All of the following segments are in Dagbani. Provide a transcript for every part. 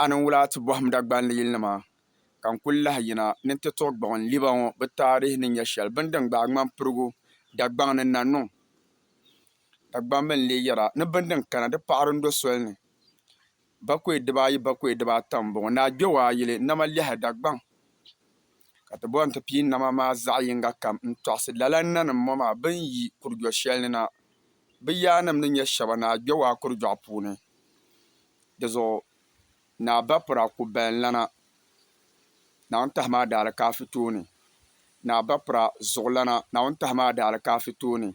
a niŋ wula ti bɔhim Dagbanli yilinima? Ka n kul lahi yina ni n ti tuɣi gbuɣi n liba ŋɔ bɛ taarihi ni nya shɛli bini din gbaai ŋmani pirigu Dagbaŋ ni na niŋ. Dagbamba n-lee yɛra ni bini din kana di paɣiri n-do soli ni. Bakɔi diba ayi bakɔi diba ata m-bɔŋɔ, ni a gbɛu a yili nama lɛhi Dagbaŋ, ka ti bɔhi n ti pii nama maa zaɣ yiŋga kam n-tɔɣisi lala nanim ŋɔ maa bɛ ni yi Kurigyo shɛli ni na. bɛ yaannim ni nyɛ shɛba ni a gbɛ o a kurudɔɣu puuni. Di zuɣu Naa Bapira ku bayanlana Naawuni-Tahima Adaalikaafi tooni. Naa Bapira zuɣulana Naawuni-Tahima Adaalikaafi tooni.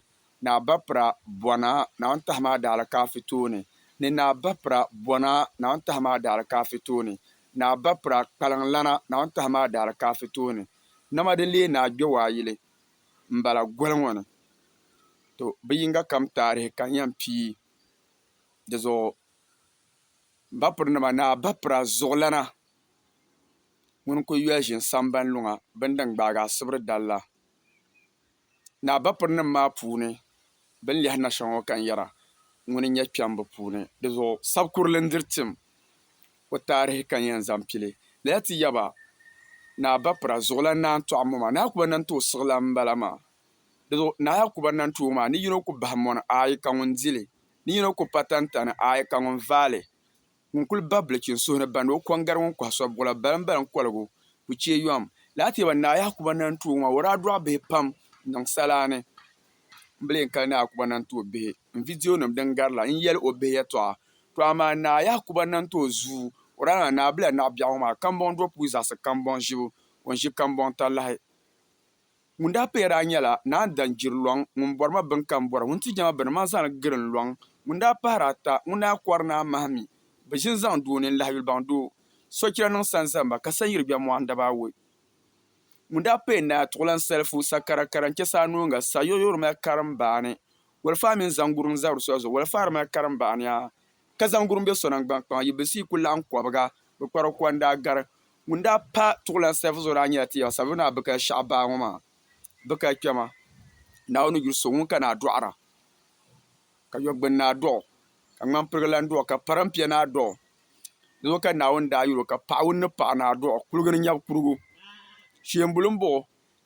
Naa Bapira bɔna Naawuni-Tahima Adaalikaafi tooni ni Naa Bapira bɔna Naawuni-Tahima Adaalikaafi tooni. Naa Bapira kpaliŋlana Naawuni-Tahima Adaalikaafi tooni. Nama di leei ni a gbɛ o a yili. m-bala goli ŋɔ ni to bɛ yiŋga kam taarihi ka n yɛn pii di zuɣu m bapirinima ni abapira zuɣulana ŋuni kuli yoli ʒini sambani luŋa bini din gbaagi asibiri dali la ni abapirinima maa puuni bini lihi na shɛli ŋɔ ka n yɛra ŋuni n-nyɛ kpɛmba puuni di zuɣu sabikurili n-diri tim o taarihi ka n yɛn zaŋ pili lala ti yaba Naa Bapira zuɣulan Naa Ntɔɣu Moma. Naa Yakuba Nanti o siɣilan m-bala maa. Di zuɣu Naa Yakuba Nanti o maa ni yino ku bahi mɔni aai ka ŋun di li ni yino ku pa tantani aai ka ŋun vaai li. Ŋun kul bahi bilichini suhu ni bandi o kɔŋ gari ŋun kɔhi so buɣila baliŋ baliŋ koligu ku chɛ yom. Lala ti yaba Naa Yakuba Nanti o maa, o daa dɔɣi bihi pam n-niŋ salaani. N bi leen kali Naa Yakuba na n-ti o bihi n vidionima din gari la n-yɛli o bihi yɛtɔɣa. Tɔ amaa Naa Yakuba na n-ti o zuu, o daa niŋla Naa Bila Naɣ Biɛɣu ŋɔ maa kambɔŋ do puu zaɣisi kambɔŋ ʒibu, o ni ʒi kambɔŋ talahi. Ŋun daa paya daa nyɛla Naa Ndan Jiri Lɔŋ ŋun bɔri ma bini ka m bɔra, ŋun ti jɛma bini ma zaŋ li giri n lɔŋ, ŋun daa pahiri ata, ŋun daa kɔri naa mahi mi bi ʒini zaŋ doo nini lahi yuli baŋ doo. Sochira niŋ sanzamba ka sanyiri gbɛ mɔɣu n-dab a woi. Ŋun daa pee Naa Tuɣilan Salifu sakarakara n-chɛ saa noonga sa yoyoo di mali karim baani walifaa mini zaŋgurum n-zabir di soli zuɣu walifaa di mali karim baani a ka zaŋgurum be so naŋgban kpaŋa yi bilisi yi ku laɣim kɔbiga bi kpari o kuwa n daa gari ŋun daa pa Tuɣilan Salifu zuɣu daa nyɛla Tiyaba Savelugu Naa Bikaya Shɛɣu baa ŋɔ maa Bikaya kpɛma Naawuni yuri so ŋun ka naa dɔɣira ka Yɔgbuni Naa dɔɣi ka Ŋmanpirigilan dɔɣi ka Parimpia Naa dɔɣi Di zuɣu ka Naawuni daa yɛl o, Ka paɣigu ni paɣi ni a dɔɣi kuliga ni nyab kurigu. Cheembuli m-bɔɣ o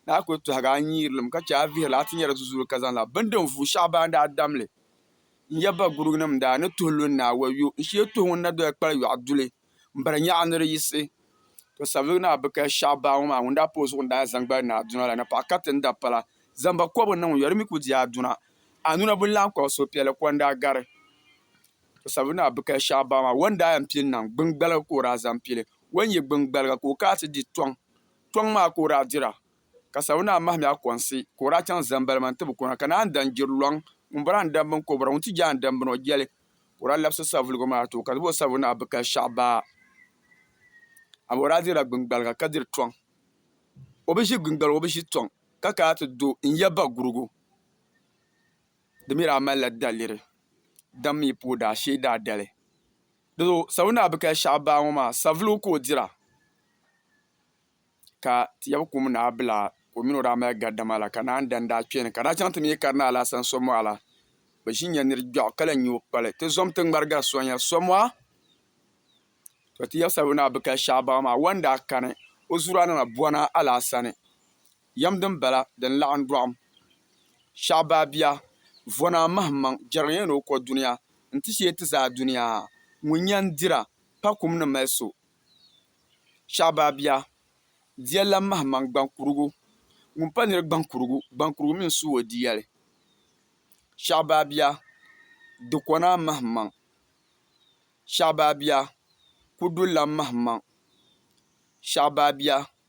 ni a kuli tɔhigi a nyiirilim ka chɛ a vihirili a ti nyari zuzuuli ka zaŋla bini din vuui shɛɣu baa daa dam li n-yɛ ba guruginim n-daa ni tuhi lu n-naa. Wayyo! N shee tuhi ŋun na doya kpali yɔɣu duli m-biri nyaɣi ni di yiɣisi. Tɔ! Savelugu naa bi kali shɛɣu baa ŋɔ maa ŋun daa pa o zuɣu n-daa yɛn zaŋ gbali ni a duna la, napɔɣu kariti ni da pala. Zaŋ ba kɔbigu niŋ n yɔri mi ku di a duna. A nuna bi ni lahi kɔbi suhupiɛlli kɔndaa gari. Sabina Abikaya Shah Bama wan daa yan pili naŋ gbiŋgbaliga ka o daa zaŋ pili. Wan yi gbiŋgbaliga ka o kana ti di tɔŋ. Tɔŋ maa ka o daa dira, ka Sabina mahim ya kɔnsi ka o daa chaŋ Zambalima nti bi kɔna ka naan dan jiri lɔŋ ŋun bɔra n dambini ka o bɔra ŋun ti jaa n dambini o jɛli. Ka o daa labisi savuligu maa ti o ka ti bo Sabina Abikaya Shah Baa ami o daa dirila gbiŋgbaliga ka diri tɔŋ. O bi ʒi gbiŋgbaliga o bi ʒi tɔŋ ka kana ti do n ya bagurugu. Di mi daa malila daliri dam mi pa o daashee daadali. Doo Savelugu Naa Bikali Shɛhi Baa ŋɔ maa savelugu ka o dira ka Tɛɛbu Kum Naa Bila ka o mi ni o daa mali gari dama la ka naan dan daa kpɛni ka daa chaŋ ti mi yi kari ni Alasan Somoha la bɛ ʒi nya niri gbɛɣu ka lahi nya o kpali ti zom ti ŋmari gari Sonia Somoha. Tɔ Tɛɛbu Savelugu Naa Bikali Shɛhi Baa ŋɔ maa wan daa kani o zuraa na na bɔna Alaasani Yɛm din bala din laɣim dɔɣim shɛɣu baa bia, vɔna mahim maŋ jɛriga ya ni o kɔ dunia nti shee ti zaa dunia ha. Ŋun yan dira pa kum ni mali so shɛɣu baa bia, dia lan mahim maŋ gbaŋ kurigu. Ŋun pa nir gbaŋ kurigu, gbaŋ kurigu mi n-su o diyali shɛɣu baa bia, di kɔ naa mahim maŋ shɛɣu baa bia, kudu lan mahim maŋ shɛɣu baa bia,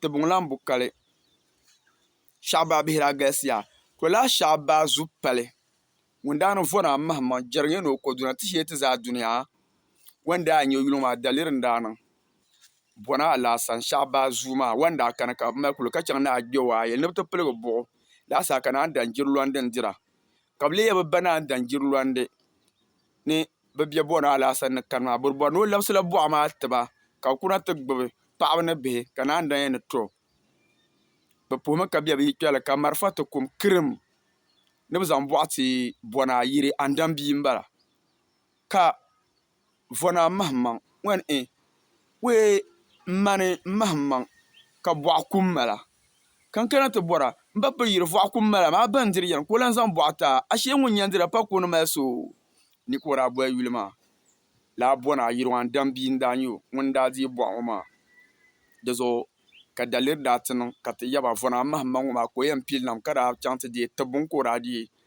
tibiŋ lan bu kali. Shɛɣu baa bihi daa galisiya. To laa shɛɣu baa zu pali ŋun daa ni vɔri a mahimmaŋ jɛrigiya ni o kɔduna ti shee ti zaa dunia. Wan daa n-nyɛ yuli ŋɔ a daliri ni daa niŋ bɔna alaasani shɛɣu baa zuu maa. Wan daa kani ka bɛ mali kuli ka chaŋ ni a gbiɔu a yɛli ni bɛ ti piligi buɣu laasaa ka naan dan jiri lɔndin dira. Ka bɛ leei ya bɛ ba naan daŋ jirilɔndi ni bɛ bɛ bɔna alaasa ni kani maa. Bɔribɔri ni o labisila buɣa maa ti ba, ka bɛ kuna ti gbibi paɣiba ni bihi, ka naan daŋ ya ni tɔ bɛ puhimi ka bɛ bi yi kpe li, ka marafa ti kum kirim ni bɛ zaŋ bɔɣa ti bɔna yiri, Andam bia m-bala. Ka vɔ naa mahimmaŋ ŋan e we m-mani mahimmaŋ ka bɔɣa kum ma la. Ka n kana ti bɔra, m ba pili yiri vɔɣa kum ma la maa bɛn diri yɛn ka o lan zaŋ bɔɣa taa, ashee ŋun nyandira pa ka o ni mali so ni ka o daa boli yuli maa. Lala bɔ naa Yiriwan Dam bia n-daa nyɛ o ŋun daa deei bɔɣa ŋɔ maa. Di zuɣu ka daliri daa ti niŋ ka ti yaba vɔ naa mahimmaŋ ŋɔ maa ka o yɛn pili nam ka daa chaŋ ti deei tibbu n ka o daa deei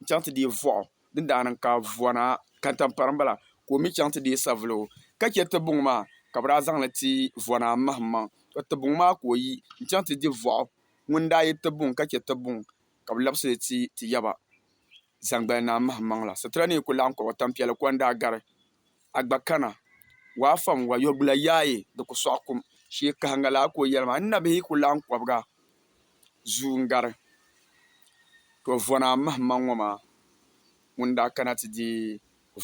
n chaŋ ti deei vɔɣu din daa niŋ ka vɔna kantampari m-bala ka o mi chaŋ ti deei savuligu ka chɛ Tibuŋ maa ka bɛ daa zaŋ li ti vɔna m-mahimaŋ. Tɔ! Tibuŋ maa ka o yi n-chaŋ ti di vɔɣu ŋun daa yi Tibuŋ ka chɛ Tibuŋ ka bɛ labisi li ti ti yaba zaŋgbali naa mahimaŋ la. Sitira ni yi ku laɣim kɔba tampiɛl kɔndaa gari. a gba kana, waa fam wa, yɔbila yaai di ku sɔɣi kum, shee kahiŋga laa ka o yɛli ma, N nabihi ku laɣim kɔbiga zuu n-gari, tɔ vɔna m-mahim ma ŋɔ maa ŋun daa kana ti di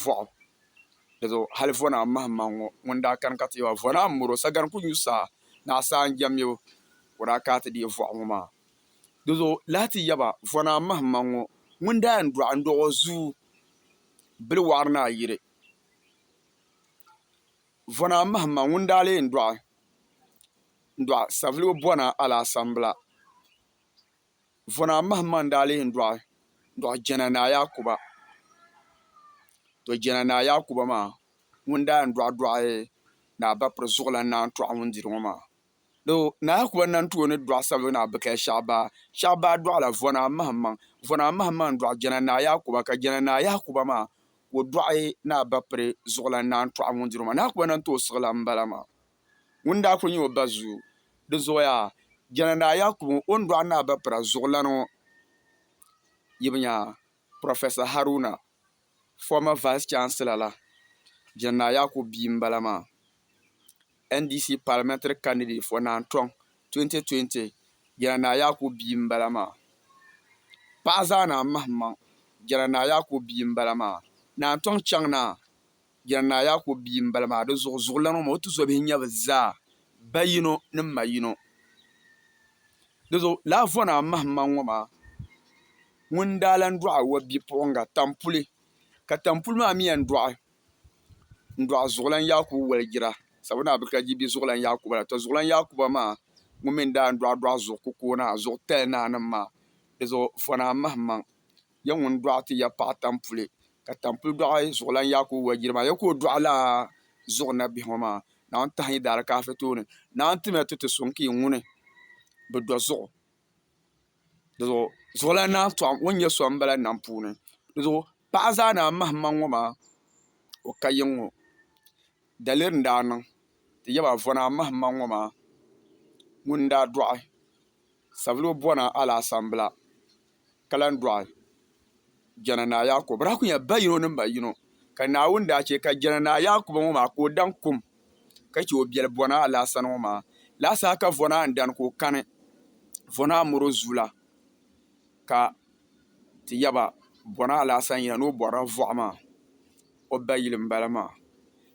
vɔɣu, di zuɣu hali vɔna m-mahim ma ŋɔ ŋun daa kani ka ti yɛba vɔna m-miri o, sagani ku nyu saa ni a saa n-jɛmmibu ka o daa ka ti di vɔɣu ŋɔ maa, di zuɣu lahi ti yɛba vɔna m-mahim ma ŋɔ ŋun daa yɛn dɔɣi n-dɔɣi o zuu. bili wɔɣiri ni a yiri. Vɔna mahimma ŋun daa leei n-dɔɣi n-dɔɣi Saviligu Bɔna Alaasambila. Vɔna mahimma n-daa leei n-dɔɣi n-dɔɣi Jɛna Naa Yaakuba. To Jɛna Naa Yaakuba maa ŋun daa yɛn dɔɣidɔɣi Naa Bapiri Zuɣulan Naa Tɔɣu ŋun diri ŋɔ maa. Do Naa Kuba Nantuo ni dɔɣi sabibu ni Abikaya Shɛhi Baa. Shɛhi Baa dɔɣila Vɔnaa Mahimaŋ. Vɔnaa Mahimaŋ dɔɣi Jɛna Naa Yakuba ka Jɛna Naa Yakuba maa ka o dɔɣi Naa Bapiri Zuɣulan Naantɔɣu ŋun diri o maa. Naa Kuba Nantuo siɣilan m-bala maa. Ŋuni daa kuli nyɛ o ba zuyu. Di zuɣu yaa Jɛna Naa Yakuba ŋɔ o ni dɔɣi Naa Bapira Zuɣulan ŋɔ yibu nya Professor Haruna. former vice chancellor la Gen Naa Yakubu bia n bala maa, NDC parliamentary candidate for Naan Tɔŋ 2020 Jena Naa Yakubu bia n bala maa, paɣa zaa Naa Mahi maŋ Jena Naa Yakubu bia n bala maa, Naan Tɔŋ chaŋ Naa. Jɛna Naa Yaakubu bia m-bala maa, di zuɣu zuɣulan o ma, o tizɔbihi nya bɛ zaa, ba yino ni ma yino. Di zuɣu Laavɔnaa Mahima ŋɔ maa ŋun daa lan dɔɣi Awa bipuɣiŋga Tampuli, ka Tampuli maa mi yɛn dɔɣi n-dɔɣi Zuɣulan Yaakubu Waligira, sabu Naa Birika Jibi bi Zuɣulan Yaakuba la. Tɔ! Zuɣulan Yaakuba maa ŋun mi n-daa dɔɣi dɔɣi zuɣu kukoonaa, zuɣu tali naanima maa, di zuɣu Fɔnaa Mahimaŋ. ya ŋun dɔɣi ti ya paɣi tampuli, ka tampuli dɔɣi zuɣulan yaak o wajiri maa, ya ka o dɔɣi laa zuɣu nabihi ŋɔ maa, Naawuni tahi yi daali kaafi tooni, Naawuni tim ya ti ti suŋ ka yi ŋuni bi dɔ zuɣu, dinzuɣu zuɣulan naa tɔɣim o ni nyɛ so m-bala nam puuni, dinzuɣu paɣa zaa naa mahimaŋ ŋɔ maa o ka yiŋ ŋɔ, daliri n-daa niŋ ti yaba vɔna mahimaŋ ŋɔ maa ŋun daa dɔɣi. Savilo bɔna alaasambila ka lan dɔɣi Jananaa Yaakubu. Bɛ daa kul nyɛla ba yino ni ma yino, ka Naawuni daa chɛ ka Jananaa Yaakubu ŋɔ maa ka o daŋ kum ka chɛ o biɛli bɔna alaasani ŋɔ maa. Laasaha ka Vɔnaa n-dani ka o kani Vɔnaa mɔr o zuula ka ti ya ba bɔna alaasani yina ni o bɔrila vɔɣu maa. O ba yili m-bala maa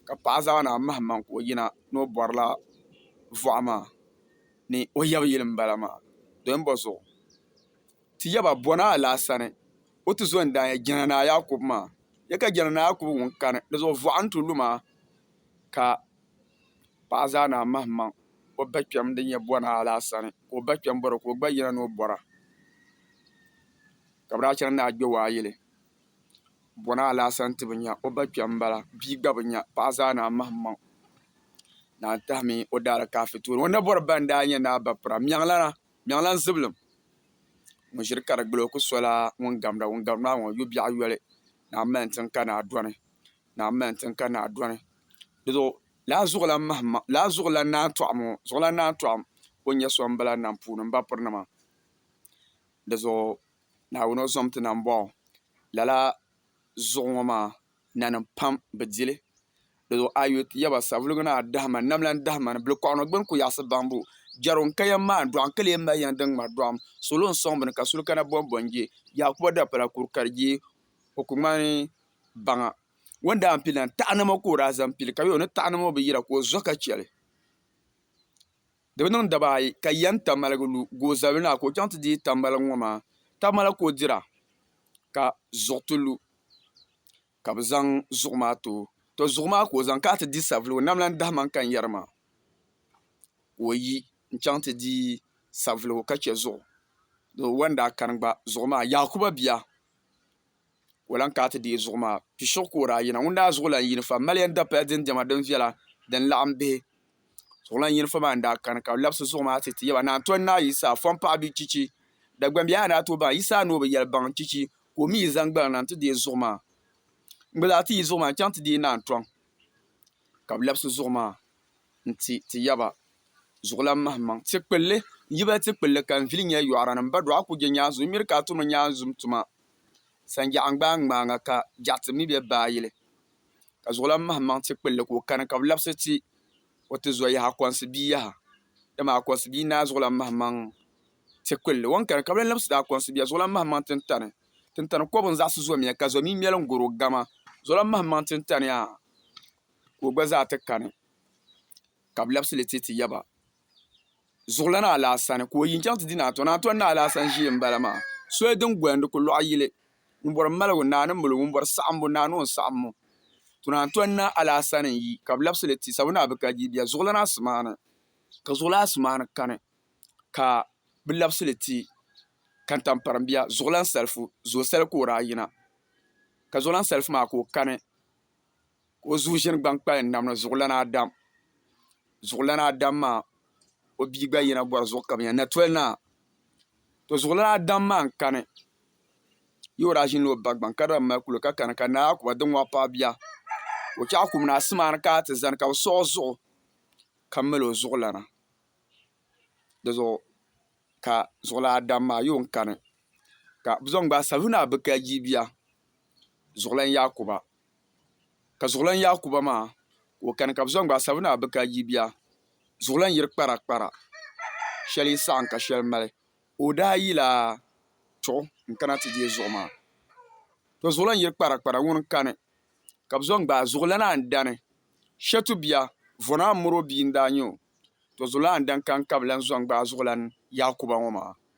ka paɣa zaŋ a ni a mahi maŋ ka o yina ni o bɔrila vɔɣu maa. ni o yab yili m-bala maa, doya m-bɔ zuɣu. Ti yab a bɔna alaasani, o ti zo n-daa ya Jɛna Naa Yaakubu maa. Ya ka Jɛna Naa Yaakubu ŋun kani di zuɣu vɔɣa n-tu lu maa, ka paɣa zaa naa mahimaŋ o bakpɛm din ya bɔna alaasani, ka o bakpɛm bɔri o ka o gba yina ni o bɔra, ka bɛ daa chani ni a gbe o a yili. Bɔna alaasa n-ti bi nya, o ba kpɛm m-bala, bia gba bi nya, paɣa zaa naan mahimmaŋ, naan tahimi o daalikaafɛ tooni. O ni bɔri ba n-daa nyɛ Naa Bapira, Mɛɣilana, Mɛɣilan Zibilim ŋun ʒiri ka di gili o ku sola ŋun gamda ŋun gari maa ŋɔ yo biɛɣu yoli, Naa m-mali n-tiŋ ka naa dɔni, Naa m-mali n-tiŋ ka naa dɔni. Di zuɣu lala zuɣulan mahimmaŋ, lala zuɣulan naan tɔɣim ŋɔ, zuɣulan naan tɔɣim o ni nyɛ so m-bala nam puuni m bapiri nima. Di zuɣu. Naawuni o zom ti na m-bɔŋɔ. Lala zuɣu ŋɔ maa nanim pam bi di li. Di zuɣu a yi yuli ti yaba savuligu ni a dahi ma ni nam lan dahi ma ni bilikɔɣinɔ gbini kuyaɣisi baŋbu jɛrigu n-ka yɛm maa dɔɣi n-ka lee mali yɛm din ŋmari dɔɣim. Salo n-sɔŋ bini ka suli kana bɔnbɔ n-je Yaakuba dapala kuri ka di je o ku ŋmani baŋa. O ni daa pili la taɣinimo ka o daa zaŋ pili ka yo ni taɣinimo bi yira ka o zo ka chɛ li. Di bi niŋ daba ayi ka yɛn ta maligi lu goozabili na ka o chaŋ ti deei tamalig ŋɔ maa tamala ka o dira, ka zuɣu ti lu ka bɛ zaŋ zuɣu maa ti o. Tɔ! Zuɣu maa ka o zaŋ ka a ti di savili o nam la n-dahi ma n-kani yɛri ma ka o yi n-chaŋ ti di savili o ka chɛ zuɣu. Di wan daa kani gba zuɣu maa Yakuba bia ka o lahi kana ti deei zuɣu maa pishɛgu ka o daa yina ŋun daa zuɣu lahi yini fa mali yɛn dapali din diɛma din viɛla din laɣam bihi zuɣulan yini fa maa n daa kani ka bi labisi zuɣu maa ti ti yaba naan tɔni naa yisa fɔn paɣa bɛ chichi Dagbaŋ bihi a ni daa tooi baŋ yisa a ni o bi yɛli baŋ chichi ka o mii yi zaŋ gbalina n ti deei zuɣu maa n gba zaa ti yi zuɣu maa n chɛŋ ti deei naan tɔŋ ka bi labisi zuɣu maa n ti ti yaba zuɣulan mahi maŋ ti kpulli n yibali ti kpulli ka n vili nyɛ yɔɣara ni n ba dɔɣa ku je nyaanzum n miri ka a tumi nyaanzum tuma Sanjɛɣu n-gbaai ŋmaaŋa ka jɛɣu ti mi bɛ baayili, ka zuɣulan mahi maŋ ti kpilli ka o kani ka bɛ labisi ti o ti zo yaha Akɔnsi bia yaha. Dama Akɔnsi bia naai zuɣulan mahi maŋ ti kpilli. O ni kani ka bɛ lan labisi ti Akɔnsi bia zuɣulan mahi maŋ tintani. Tintani kɔbu n-zaɣisi zomiya ka zomi ŋmɛli n-goro gama zuɣulan mahi maŋ tintani yaa ka o gba zaa ti kani. ka bɛ labisi li ti ti ya ba zuɣulana alaasani ka o yi n-chaŋ ti di Naantɔn. Naantɔn naa alaasani ʒii m-bala maa, soli din goli n-di ku lɔɣi yili. Ŋun bɔri maligu, naa ni maligu, ŋun bɔri saɣimbu, naa ni o ni saɣimbu. To Naantɔn naa alaasani n-yi ka bɛ labisi li ti Sabu naa bi ka di bia zuɣulana asimaani. Ka zuɣulana asimaani kani ka bɛ labisi li ti Kantamparim bia zuɣulan Salifu. Zoosali ka o daa yina ka zuɣulan Salifu maa ka o kani. ka o zuɣu ʒini gbaŋ kpalim nam ni zuɣulana Adam zuɣulana Adam maa o bia gba yina bɔri zuɣu ka bɛ nya natoli naa tɔ zuɣulana Adam maa n-kani yi o daa ʒinila o ba gbaŋ ka di daa mali kuli ka kani ka Naa Yakuba di ŋɔɣu paai bia ka o chaɣu kum ni asimaani ka a ti zani ka bɛ siɣi o zuɣu ka mali o zuɣulana di zuɣu ka zuɣulana Adam maa yi o n-kani ka bɛ zaŋ gbaai sabili ni a bi kai jii bia zuɣulan Yakuba ka zuɣulan Yaakuba maa ka o kani ka bɛ zaŋ gbaai Sabina Abika yibia zuɣulan yiri kparakpara shɛli yi saɣim ka shɛli mali. O daa yila chuɣu n-kana ti deei zuɣu maa. Tɔ zuɣulan yiri kparakpara ŋuni kani ka bɛ zaŋ gbaai zuɣulan Andani Shetu bia Vɔna Amuro bia n-daa nyɛ o. Tɔ zuɣulan Andani kani ka bɛ lan zaŋ gbaai zuɣulan Yaakuba ŋɔ maa.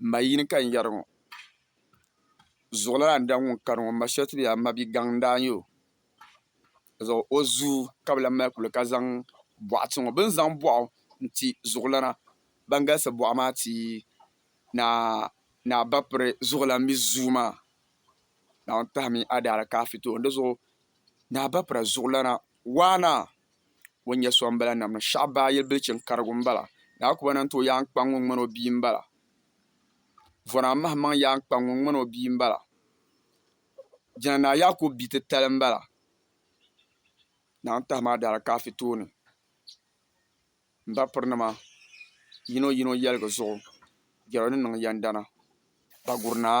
M ma yini ka n yɛri ŋɔ, zuɣulana n-daŋ ŋun kani ŋɔ, m ma shɛli ti be a ma bigaŋ n-daa n-nyɛ o, ka zaŋ o zuu ka bɛ lan mali kuli ka zaŋ bɔɣu ti ŋɔ. Bɛ ni zaŋ bɔɣu n-ti zuɣulana ban galisi bɔɣu maa ti Naa Bapiri zuɣulan mi zuu maa. Naawuni pahimi a daalikaafɛ tooni di zuɣu Naa Bapira zuɣulana waana ŋun nyɛ sombila nam ni shɛɣu baa yili bilichini karigu m bala Naa Akuba Nantɛ o yaan kpaŋ ŋun ŋmani o bia m bala Vɔna Mahammaŋ yaan kpaŋ ŋun ŋmani o bia m bala Jina Naa Yaakubu bia titali m bala Naawuni pahimi a daalikaafɛ tooni m bapirinima yino yino yɛligi zuɣu jɛro ni niŋ yɛndana Bagurinaa